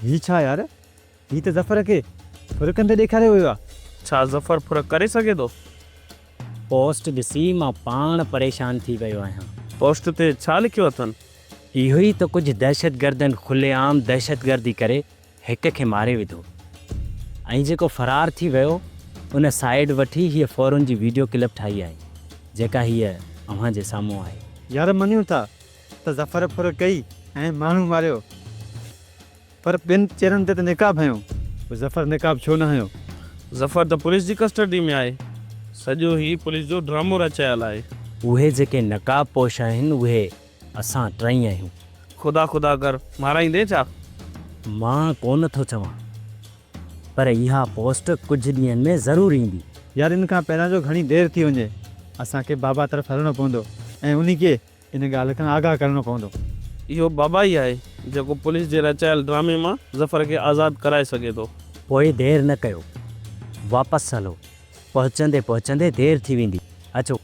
هي ڇا يار؟ هي ته ظفر کي ڦرڪن تي ڏيکاريو ويو آهي. ڇا ظفر ڦرڪ ڪري سگهي ٿو؟ پوسٽ ڏسي مان پاڻ پريشان ٿي ويو آهيان. پوسٽ تي ڇا لکيو اٿن؟ اهو ئي ته ڪجهه دهشتگردن کلي عام دهشتگردي ڪري هڪ کي ماري وڌو ۽ جيڪو فرار ٿي ويو ان سائيڊ وٺي هيء فورن جي ويڊيو ڪلپ ٺاهي آهي جيڪا هيء اوهان جي سامهون آهي. يار مڃون ٿا ته ظفر ڦر ڪئي ۽ ماڻهو ماريو پر ٻن چهرن تي ته نقاب هنيو پوء ظفر نقاب ڇو نه هنيو؟ ظفر ته پوليس جي ڪسٽرڊي ۾ آهي سڄو هي پوليس جو ڊرامو رچايل آهي. اهي جيڪي نقاب پوش آهن اهي اسان ٽئي آهيون. خدا خدا ڪر مارائيندين ڇا؟ مان ڪونه ٿو چوان پر اها پوسٽ ڪجهه ڏينهن ۾ ضرور ايندي. يار ان کان پهريان جو گهڻي دير ٿي وڃي اسان کي بابا طرف هلڻو پوندو ۽ انهي کي ان ڳالهه کان آگاهه ڪرڻو پوندو. اهو بابا ئي آهي جيڪو پوليس جي رچايل ڊرامي مان ظفر کي آزاد ڪرائي سگهي ٿو. پوء دير نه ڪيو واپس هلو پهچندي پهچندي دير ٿي ويندي اچو.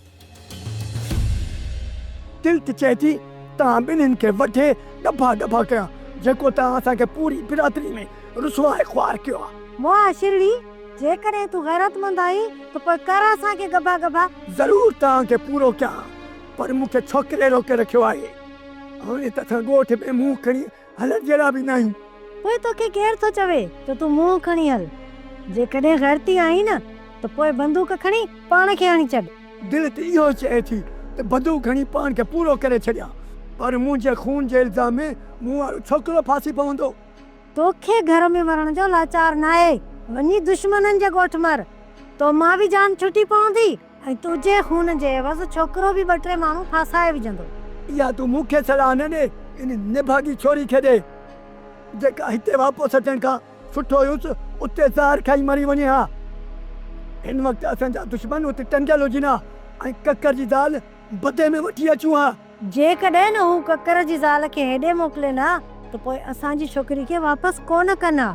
تلت چئي ٿي، توهان ٻنهين کي وڍي ڏبا ڏبا ڪيا، جيڪو توهان اسان کي پوري برادري ۾ رسوا ۽ خوار ڪيو آهي. معاشرڙي، جيڪڏهن تون غيرتمند آهين ته پوء ڪر اسان کي ڳڀا ڳڀا. ضرور توهان کي پورو ڪيان، پر مون کي ڇوڪري روڪي رکيو آهي. هاڻي ته اسان ڳوٺ ۾ منهن کڻي هلڻ جهڙا به ناهيون. پوء توکي ڪير ٿو چوي ته تون منهن کڻي هل. جيڪڏهن غيرتي آهين نه ته پوء بندوق کڻي پاڻ کي هڻي ڇڏ. دل ته اهو چئي ٿي ته بندوق کڻي پاڻ کي پورو ڪري ڇڏيان پر منهنجي خون جي الزام ۾ مون وارو ڇوڪرو ڦاسي پوندو. توکي گهر ۾ مرڻ جو لاچار ناهي. وڃي دشمنن جي ڳوٺ مر. تو مان به جان ڇٽي پوندي. ۽ تنهنجي خون جي عوض ڇوڪرو به ٻه ٽي ماڻهو ڦاسائي وجهندو. اها تون مون کي صلاح نه ڏي، ان نڀاڳي ڇوري کي ڏي، جيڪا هتي واپس اچڻ کان سٺو هيس اتي زهر کائي مري وڃي ها. هن وقت اسان جا دشمن اتي ٽنگيل هجن ها ۽ ڪڪر جي زال بدي ۾ وٺي اچون ها. جيڪڏهن هو ڪڪر جي زال کي هيڏي موڪلين ها ته پوء اسان جي ڇوڪري کي واپس ڪونه ڪن ها.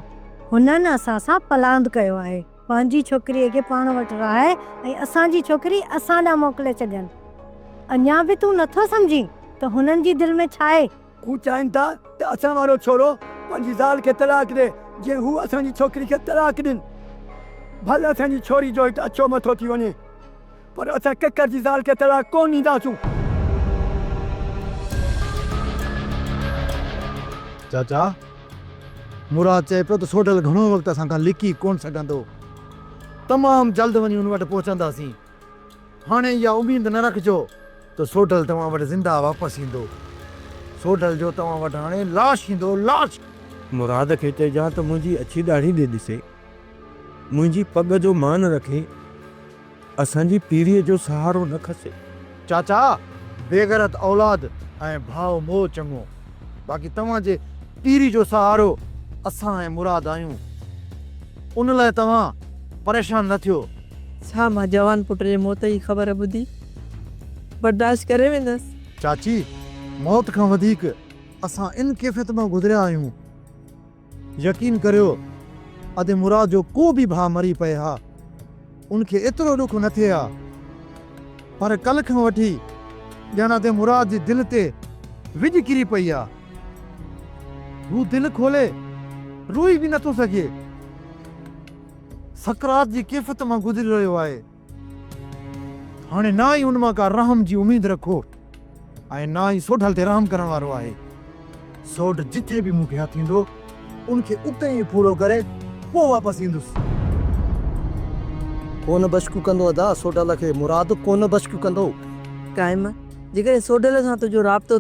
هنن اسان سان پلاند ڪيو آهي. پنهنجي ڇوڪريء کي پاڻ وٽ رهائي ۽ اسان جي ڇوڪري اسان ڏانهن موڪلي ڇڏين. اڃا به تون نه ٿو سمجهين ته هنن جي دل ۾ ڇا آهي؟ هو چاهين ٿا ته اسان وارو ڇورو پنهنجي زال کي طلاق ڏئي، جيئن هو اسان جي ڇوڪري کي طلاق ڏين. ڀل اسان جي ڇوري جو هت اڇو مٿو ٿي وڃي. پر اسان ڪڪر جي زال کي طلاق ڪونه ڏينداسون. چاچا! مراد چئي پيو ته سوڍل گهڻو وقت اسان کان لڪي ڪونه سگهندو. تمام جلد وڃي هن وٽ پهچنداسين. هاڻي اها اميد نه رکجو ته سوڍل توهان وٽ زنده واپس ايندو. سوڍل جو توهان وٽ هاڻي لاش ايندو، لاش! مراد کي چئجان ته منهنجي اڇي ڏاڙهي ڏي ڏسي، منهنجي پڳ جو مان رکي. اسان جي پيڙهي جو سهارو نه کسي. چاچا بيغيرت اولاد ۽ ڀاء موء چڱو باقي توهان جي پيري جو سهارو اسان ۽ مراد آهيون ان لاء توهان پريشان نه ٿيو. ڇا مان جوان پٽ جي موت جي خبر ٻڌي برداشت ڪري ويندس. چاچي موت کان وڌيڪ اسان ان ڪيفيت مان گذريا آهيون. يقين ڪريو ادي مراد جو ڪو به ڀاء مري پئي ها ان کي ايترو ڏک نه ٿئي ها پر ڪل کان وٺي ڄڻ ادي مراد جي دل تي وڄ ڪري پئي ها هو دل کولي روئي به نه ٿو سگهي سڪرات جي ڪيفت مان گذري رهيو آهي. هاڻي نه ئي ان مان ڪا رحم جي اميد رکو ۽ نه ئي سوڍل تي رحم ڪرڻ وارو آهي. سوڍ جتي به مون کي هٿ ايندو، ان کي اتي ئي ڦوڙو ڪري پوء واپس ايندس. ڪونه بشڪ ڪندو ادا، سوڍل کي مراد ڪونه بشڪ ڪندو. قائم، جيڪڏهن سوڍل سان تنهنجو رابطو.